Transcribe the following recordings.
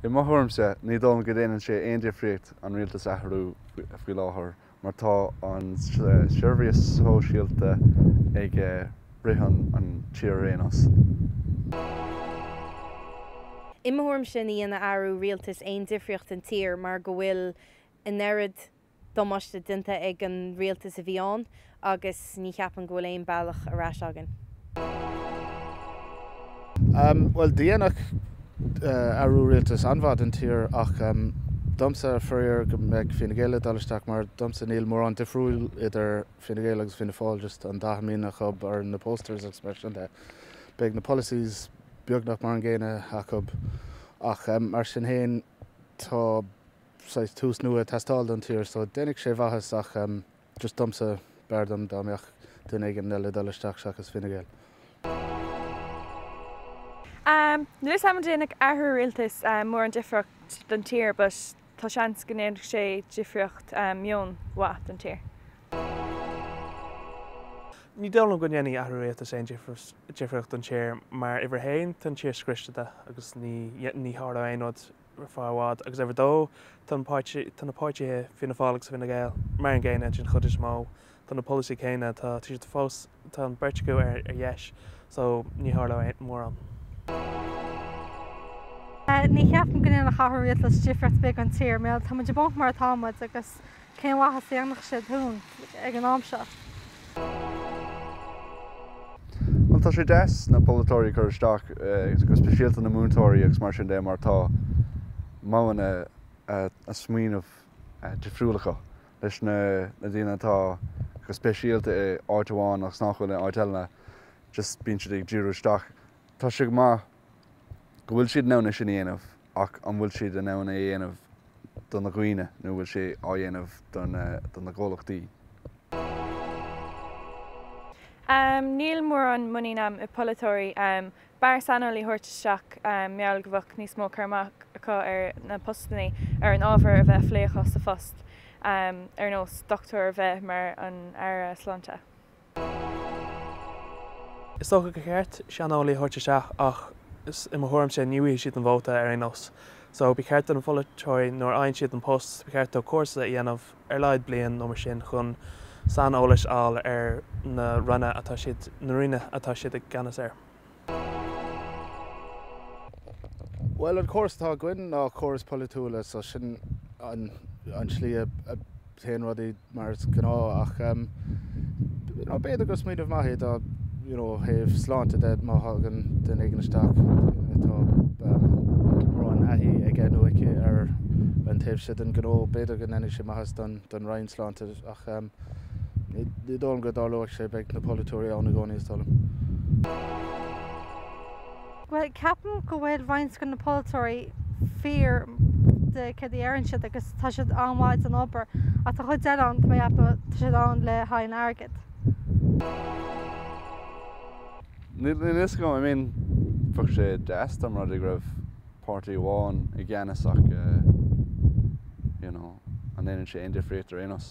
I mo thuairimse, ní dóigh liom go déanann sé aon difríocht an rialtas a athrú faoi láthair mar tá an seirbhís shóisialta ag rith an tír ar aon nós. I mo thuairimse, ní dhéanfaidh athrú rialtais aon difríocht don tír mar go bhfuil an oiread. damáiste déanta ag an rialtas a bhí ann agus ní cheapaim go bhfuil aon bealach ar ais againn. Bhuel, dhéanfadh athrú rialtais an-mhaith don tír ach domsa, faraor, go mbeidh Fine Gael ag dul isteach mar domsa níl mórán difriúil idir Fine Gael agus Fianna Fáil, just an dath a mbíonn acu ar na posters agus mar sin de. Beidh na polasaithe beagnach mar an gcéanna acu ach mar sin fhéin tá. saghas tús nua ag teastáil don tír so déanfaidh sé maitheas ach just domsa b'fhearr dom dá mbeadh duine éigin eile ag dul isteach seachas Fine Gael. Níl 's agam déanfaidh athrú rialtais mórán difríocht don tír but tá seans go ndéanfaidh sé difríocht meoin mhaith don tír. Ní dóigh liom go ndéanfaidh athrú rialtais aon difríocht don tír mar uimhir a haon tá an tír scriosta agus ní ní tharlóidh aon rud ar feadh i bhfad, agus uimhir a dó, tá na páirtithe, tá na páirtithe Fianna Fáil agus Fine Gael mar an gcéanna den chuid is mó, tá na polasaithe céanna, tá, tá siad fós, tá an beirt acu ar, ar dheis so ní athróidh mórán. Ní cheapaim go ndéanfadh athrú rialtais difríocht bheag don tír, mar tá muid i bponc mar atá muid agus Cén mhaith a dhéanfadh sé dúinn ag an am seo? Bhuel, tá sé deas na polaiteoirí ag cur isteach, go speisialta na múinteoirí agus mar sin de, mar tá modhanna smaoineamh difriúil acu leis na daoine atá go speisialta i áit amháin agus nach bhfuil i áit eile nó just bíonn siad ag díriú isteach. Tá sé go maith go bhfuil siad in ann é sin a dhéanamh. ach an bhfuil siad in ann é a dhéanamh do na dhaoine nó an bhfuil sé á dhéanamh do na gcomhlachtaí? Níl mórán muinín a'm i bpolaiteoirí. B'fhearr saineolaithe a thabhairt isteach mar gheall go mbeadh níos mó cur amach acu ar na postannaí, ar an ábhar a bheadh á phlé acu sa phost, ar nós dochtúir a bheith mar an Aire Sláinte. Is dócha gur cheart saineolaithe a thabhairt isteach ach i mo thuairimse ní fhaigheann siad an vóta ar aon nós. So, ba cheart do na polaiteoirí nuair a fhaigheann siad an post, ba cheart dóibh cúrsa a dhéanamh ar laghad bliain nó mar sin chun saineolas a fháil ar na Ranna atá siad, na Ranna atá siad i gceannas air. Bhuel, an córas atá againn ná córas polaitiúla so sin an tslí a théann rudaí mar is gnáth ach you know b'fhéidir gur smaoineamh maith é dá you know ó thaobh sláinte de má thagann duine éigin isteach atá mórán taithí aige nó aici ar an taobh seo den ghnó b'fhéidir go ndéanfaidh sé maitheas don Roinn Sláinte ach Ní dóigh liom go dtarlóidh sé, beidh na polaiteoirí ann i gcónaí is dóigh liom. Bhuel, ceapaim go bhfuil roinnt de na polaiteoirí fíor do céard a deireann siad agus tá siad an-mhaith don obair ach tá chuid eile ann go mbeidh acu, tá siad ann le haghaidh an airgid. Níl a fhios agam, I mean, bheadh sé deas dá mba rud é go raibh páirtí amháin i gceannas ach, you know, an ndéanann sé aon difríocht ar aon nós?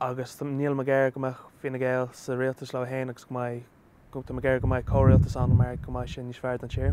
agus tá níl mé ag iarraidh go mbeadh Fine Gael sa rialtas leo féin agus go mbeidh go tá mé ag iarraidh go mbeidh comhrialtas ann mar go mbeidh sé níos fearr don tír.